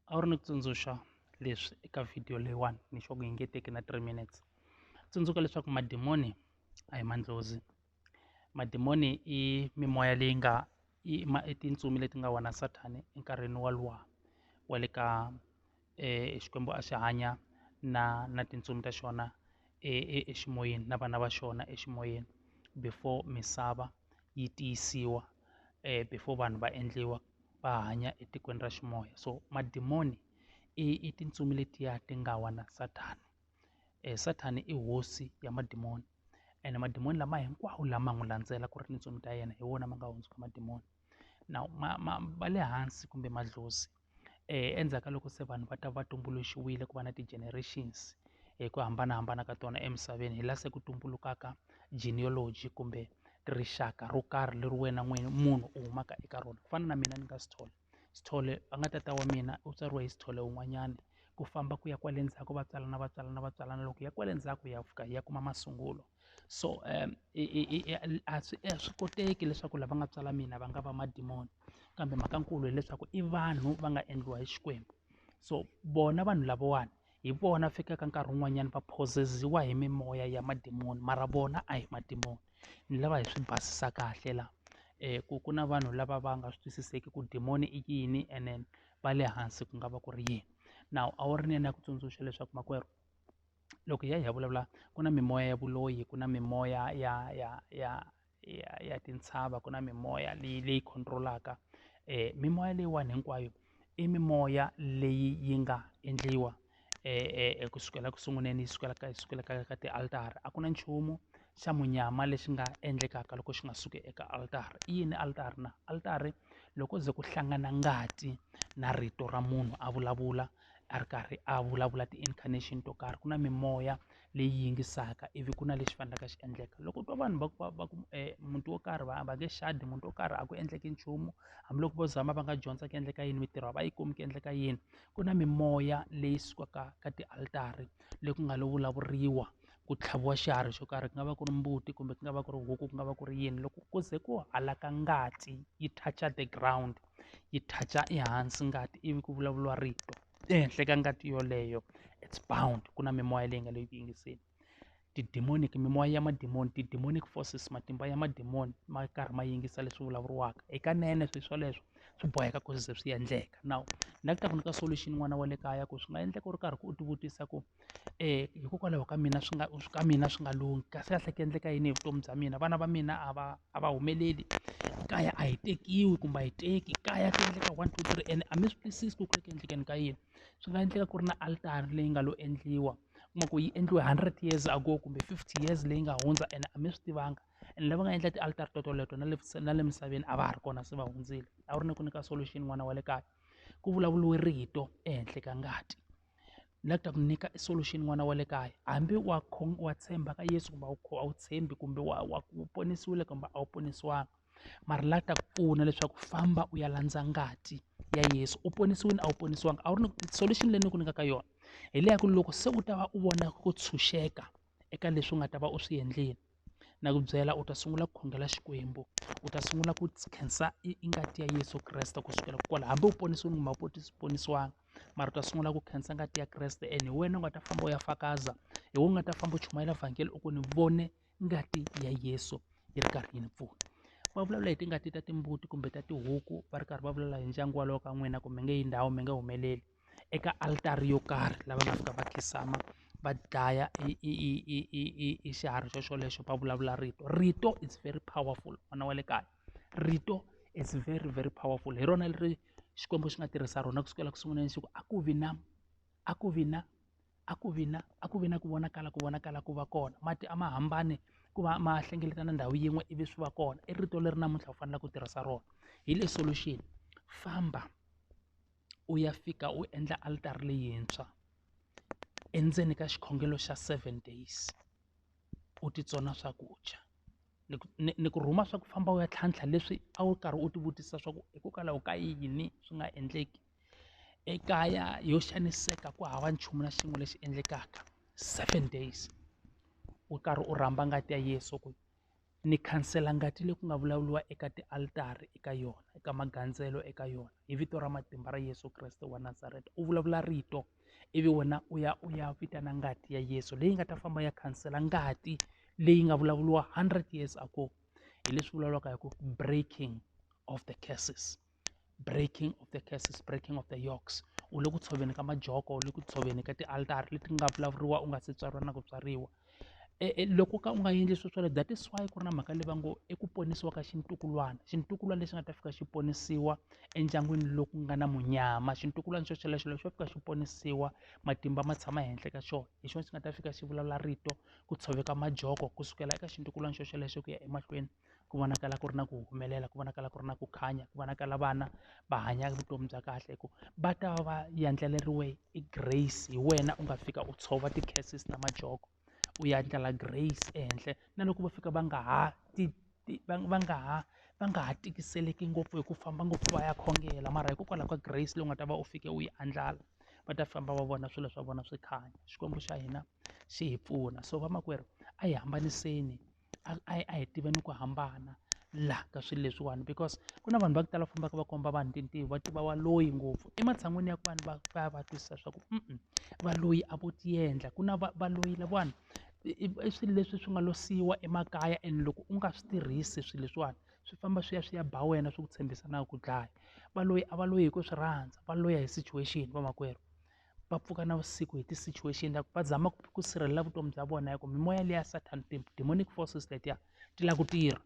a wu ri ni ku tsundzuxa leswi eka video leyiwani ni sure ku yi nge teki na three minutes tsundzuka leswaku madimoni a hi mandlozi madimoni i mimoya leyi nga i ma i tintsumi leti nga wona sathani enkarhini walowa wa le ka Xikwembu a xi hanya na na tintsumi ta xona e e eximoyeni na vana va xona eximoyeni before misava yi tiyisiwa before vanhu va endliwa va hanya etikweni ra ximoya so madimoni i i tintsumi letiya ti nga wa na sathana sathana i hosi ya madimoni ene madimoni lama hinkwawo lama n'wi landzela ku ri tintsumi ta yena hi wona ma nga hundzuka madimoni. now ma ma ma le hansi kumbe madlozi endzhaku ka loko se vanhu va ta va tumbuluxiwile ku va na ti-generations hi ku hambanahambana ka tona emisaveni hi laha se ku tumbulukaka genealogy kumbe rixaka ro karhi leri wena n'wini munhu u humaka eka rona ku fana na mina ni nga Sithole Sithole a nga tata wa mina u tswariwe hi Sithole un'wanyana ku famba ku ya kwale ndzhaku va tswalana va tswalana va tswalana loko hi ya kwale ndzhaku hi ya fika hi ya kuma masungulo. so a swi a swi koteki leswaku lava nga tswala mina va nga va madimoni kambe mhaka nkulu hileswaku i vanhu va nga endliwa hi Xikwembu so vona vanhu lavawani hi vona fikaka nkarhi wun'wanyana va possess-iwa hi mimoya ya madimoni mara vona a hi madimoni ni lava hi swi basisa kahle la ku ku na vanhu lava va nga swi twisiseki ku dimoni i yini ene va le hansi ku nga va ku ri yini nawu a wu ri ni ya ni ya ku tsundzuxa leswaku makwerhu. loko hi ya hi ya vulavula ku na mimoya ya vuloyi ku na mimoya ya ya ya ya ya tintshava ku na mimoya leyi leyi control-aka um mimoya leyiwani hinkwayo i mimoya leyi yi nga endliwa um ku sukela ku sunguleni yi sukela ka yi sukela ka ka ti-altara a ku na nchumu xa munyama lexi nga endlekaka loko xi nga suki eka altara i yini altara na altara loko ze ku hlangana ngati na rito ra munhu a vulavula a ri karhi a vulavula ti-incarnation to karhi ku na mimoya leyi yingisaka ivi ku na lexi faneleke xi endleka loko u twa vanhu va ku va va ku muti wo karhi va va nge xadi muti wo karhi a ku endleki nchumu hambiloko vo zama va nga dyondza ku endleka yini mintirho a va yi kumi ku endleka yini ku na mimoya leyi sukaka ka tialitari leyi ku nga lo vulavuriwa ku tlhaviwa xiharhi xo karhi ku nga va ku ri mbuti kumbe ku nga va ku ri huku ku nga va ku ri yini loko ku ze ku halaka ngati yi touch-a the ground. yi touch-a ehansi ngati ivi ku vulavuriwa rito ehenhla ka ngati yoleyo it's bound ku na mimoya leyi nga le ku yingiseni ti-demonic mimoya ya mademoni ti-demonic forces matimba ya mademoni ma karhi ma yingisa leswi vulavuriwaka hikanene swilo swoleswo swi boheka ku ze swi endleka now ni la ku ta ku nyika solution n'wana wa le kaya ku swi nga endleka u ri karhi u tivutisa ku hikokwalaho ka mina swi nga ka mina swi nga lunghi kasi kahle ku endleka yini hi vutomi bya mina vana va mina a va a va humeleli kaya a hi tekiwi kumbe a hi teki kaya ku endleka one two three and a mi swi twisisi ku ri ku endleni ka yini swi nga endleka ku ri na altara leyi nga lo endliwa kuma ku yi endliwe hundred years ago kumbe fifty years leyi nga hundza ene a mi swi tivanga and lava nga endla ti-alter toleto na le na le misaveni a va ha ri kona se va hundzile a wu ri ni ku nyika solution n'wana wa le kaya ku vulavuriwe rito ehenhla ka ngati. la ta ku nyika i solution n'wana wa le kaya hambi wa wa tshemba ka yesu kumbe a wu a wu tshembi kumbe wa wa ku ponisiwile kumbe a wu ponisiwangi mara la ta ku pfuna leswaku famba u ya landza ngati ya yesu u ponisiwile a wu ponisiwangi a wu ri ni solution leyi ni ku nyikaka yona hi leya ku loko se u ta va u vona ku tshunxeka eka leswi u nga ta va u swi endlile na ku byela u ta sungula ku khongela Xikwembu u ta sungula ku khensa i i ngati ya Yeso Kreste ku sukela kwala hambi u ponisiwe kumbe a wu ponisiwangi mara u ta sungula ku khensa ngati ya Kreste and hi wena u nga ta famba u ya fakaza hi wena u nga ta famba u chumayela vhangeli u ku ni vone ngati ya Yeso yi ri karhi yi ni pfuna va vulavula hi tingati ta timbuti kumbe ta tihuku va ri karhi va vulavula hi ndyangu walowo ka n'wina ku mi nge yi ndhawu mi nge humeleli. eka altara yo karhi lava nga fika va khinsama va dlaya i i i i i i i xiharhi xo xolexo va vulavula rito rito is very powerful n'wana wa le kaya rito is very very powerful hi rona leri xikwembu xi nga tirhisa rona ku sukela ku sunguleni xi ku a ku vi na a ku vi na a ku vi na a ku vi na ku vonakala ku vonakala ku va kona mati a ma hambane ku va ma hlengeleta na ndhawu yin'we ivi swi va kona i rito leri namuntlha u faneleke ku tirhisa rona hi le solution famba. u ya fika u endla altara leyintshwa endzeni ka xikhongelo xa seven days u titsona swakudya ni ku ni ni ku rhuma swa ku famba u ya tlhantlha leswi a wu karhi u ti vutisa swa ku hikokwalaho ka yini swi nga endleki ekaya yo xaniseka ku hava nchumu na xin'we lexi endlekaka seven days u karhi u rhamba ngati ya Yeso ku ni khansela ngati leyi ku nga vulavuriwa eka tialitara eka yona eka magandzelo eka yona hi vito ra matimba ra Yeso Kreste wa Nazareta u vulavula rito ivi wena u ya u ya vitana ngati ya Yeso leyi nga ta famba ya khansela ngati leyi nga vulavuriwa hundred years ago hi leswi vulavulaka hi ku breaking of the curses. breaking of the curses breaking of the yokes u le ku tshoveni ka majoko u le ku tshoveni ka tialtara leti nga vulavuriwa u nga se tswariwa na ku tswariwa e, e, loko ka u nga endli swo swale that is why ku ri na mhaka leyi va ngo i ku ponisiwa ka xintukulwana xintukulwana lexi nga ta fika xi ponisiwa endyangwini loku nga na munyama xintukulwana xo xelexo lexi xo fika xi ponisiwa matimba ma tshama henhla ka xona hi xona xi nga ta fika xi vulavula rito ku tshoveka majoko ku sukela eka xintukulwana xo xelexo ku ya emahlweni ku vonakala ku ri na ku humelela ku vonakala ku ri na ku khanya ku vonakala vana va hanya vutomi bya kahle hikuva va ta va va yandlariwe hi grace hi wena u nga fika u tshova ti-curses na majoko u yandlala grace ehenhla na loko va fika va nga ha ti ti va va nga ha va nga ha tikiseleki ngopfu hi ku famba ngopfu va ya khongela mara hikokwalaho ka grace leyi u nga ta va u fike u yi andlala va ta famba va vona swilo swa vona swi khanya xikwembu xa hina xi hi pfuna so vamakwerhu a hi hambaniseni. a a a hi tiva ni ku hambana la ka swilo leswiwani because ku na vanhu va ku tala va fambaka va komba vanhu tintiho va tiva wa loyi ngopfu ematshan'wini ya ku vanhu va va ya va twisisa swa ku va loyi a vo ti endla ku na va va loyi lavawani i i swilo leswi swi nga lo siyiwa emakaya and loko u nga swi tirhisi swilo leswiwani swi famba swi ya swi ya ba wena swi ku tshembisa na ku dlaya va loyi a va loyi hi ku swi rhandza va loya hi situation vamakwerhu. va pfuka na vusiku hi ti-situation ta ku va zama ku ku sirhelela vutomi bya vona hi ku mimoya liya Satan ti-demonic forces letiya ti lava ku tirha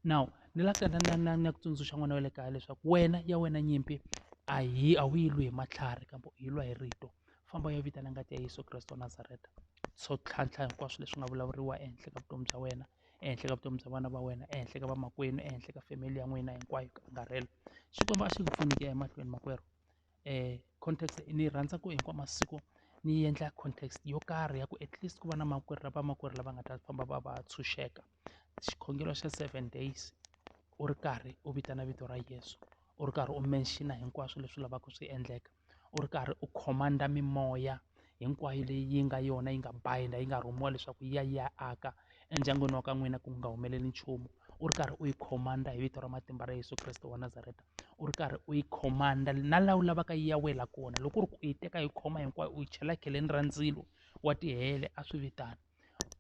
now ni la na na na na ku tsundzuxa n'wana wa le kaya leswaku wena ya wena nyimpi a hi a wu yi lwi hi matlhari kambe u yi lwa hi rito famba u ya vitana ngati ya Yeso Kreste wa Nazareta so tlhantlha hinkwaswo leswi nga vulavuriwa ehenhla ka vutomi bya wena ehenhla ka vutomi bya vana va wena ehenhla ka vamakwenu ehenhla ka family ya n'wina hinkwayo ku angarhela Xikwembu a xi ku pfuni ku ya emahlweni makwerhu context ni yi rhandza ku hinkwawu masiku ni yi endla context yo karhi ya ku at least ku va na makwerhu ra vamakwerhu lava nga ta famba va va tshunxeka xikhongelo xa seven days u ri karhi u vitana vito ra Yeso u ri karhi u mention hinkwaswo leswi lavaka swi endleka u ri karhi u command mimoya. hinkwayo leyi yi nga yona yi nga bind-a yi nga rhumiwa leswaku yi ya yi ya aka endyangwini wa ka n'wina ku nga humeleli nchumu u ri karhi u yi command hi vito ra matimba ra Yeso Kreste wa Nazareta u ri karhi u yi command na laha u lavaka yi ya wela kona loko u ri ku u yi teka yi khoma hinkwayo u yi chela kheleni ra ndzilo wa tihele a swi vitana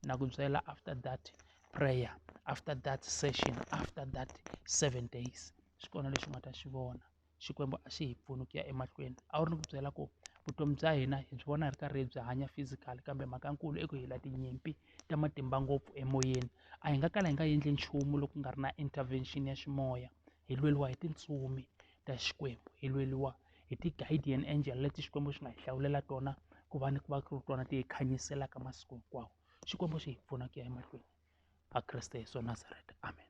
na ku byela after that prayer after that session after that seven days xi kona lexi u nga ta xi vona Xikwembu a xi hi pfuni ku ya emahlweni a wu ri ni ku byela ku vutomi bya hina hi byi vona hi ri karhi hi byi hanya physical kambe mhaka nkulu i ku hi la tinyimpi ta matimba ngopfu emoyeni a hi nga kala hi nga endli nchumu loko ku nga ri na intervention ya ximoya hi lweriwa hi tintsumi ta xikwembu hi lweriwa hi ti-guardian angel leti xikwembu xi nga hi hlawulela tona ku va ni ku va ku ri tona ti hi khanyiselaka masiku hinkwawo xikwembu xi hi pfuna ku ya emahlweni a kreste yeso nazareta amen